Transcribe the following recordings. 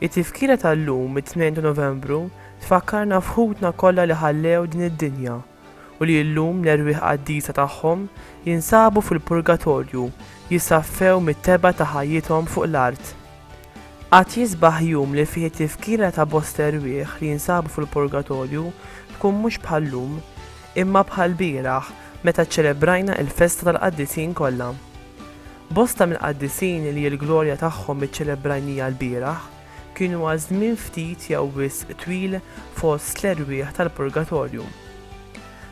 It-tifkira tal-lum, it-2 ta' Novembru, tfakkarna f'ħutna kollha li ħallew din id-dinja. u li llum l-erwieħ qaddisa tagħhom jinsabu fil-purgatorju jisaffew mit-tebgħa ta' ħajjithom fuq l-art. Qatt jisbaħ jum li fih it-tifkira ta' bosta erwieħ li jinsabu fil-purgatorju tkun mhux bħal-lum, imma bħall-bieraħ meta ċċelebrajna il-festa tal-qaddisin kollha. Bosta mill-qaddisin li l-glorja tagħhom iċċelebrajnija l-bieraħ, Kien huwa żmien ftit jew wisq twil fost l-erwieħ tal-purgatorju.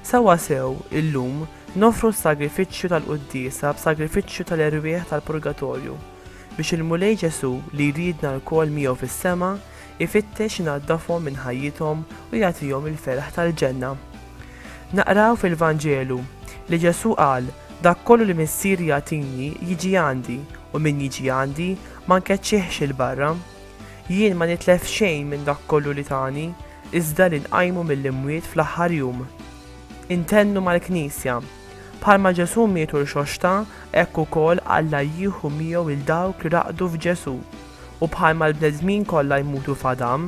Sewwasew, illum, noffru s-sagrifiċċju tal-Quddiesa b'sagrifiċċju tal-erwieħ tal-purgatorju, biex il-Mulej Ġesù, li jridna lkoll miegħu fis-sema, ifittex inaddafhom minn ħajjithom u jagħtihom il-ferħ tal-ġenna. Naqraw fil-Vanġelu, li Ġesù qal, Dak kollu li Missieri jagħtini, jiġi għandi, u min jiġi għandi, Ma nkeċċihx 'il barra. Jien ma nitlef xejn minn dak kollu li tani, iżda li nqajmu mill-imwiet fl-aħħar jum. Intennu mal-Knisja. Bħalma Ġesù mietu rxoxta, hekk ukoll Alla jieħu miegħu 'l dawk li raqdu f'Ġesù. U bħalma l-bnedmin kollha jmutu f'Adam,